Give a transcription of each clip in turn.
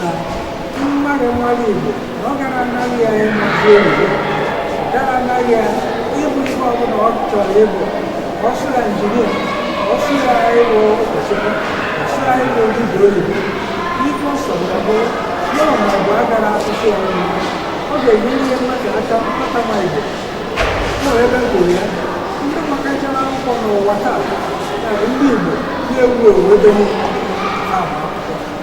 na mmadụ mara Igbo na ọ gaghị anarị ya ịmazi oyibo gaghị anarị ya ịbụ ihe ọbụla ọ chọrọ ịbụ ọ sọ ya injinia ọ sọ ya ịbụ ụkọchukwu ọ sọ ya ịbụ dibịa oyibo ife ọ sọ ya bụ ya ọ ma bụ agara asụsụ ya ọnụ ọ ga-enyere mmadụ aka mkpata ma Igbo ọ ebe m kwuru ya ndị makachara akwụkwọ n'ụwa taa na ndị Igbo na-ewu ewu ebe niile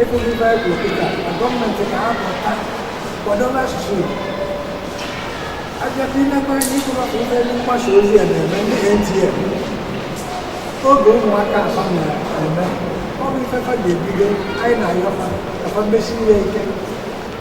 Ebe ndị Baịbụl dịka na gọọmenti ga-apụta kwadobe asụsụ Igbo. Abịakwa imekwa ihe ịkụrụ ọkụ ife ndị mgbasa ozi a na-eme ndị NTA. Oge ụmụaka a fa na-eme, ọ bụ ife fa ga-ebido anyị na-ayọ fa ka fa mesiwe ike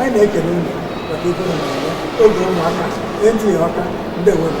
anyị na-ekele unu maka ife na oge ụmụaka na-etinye ọka ndị nwere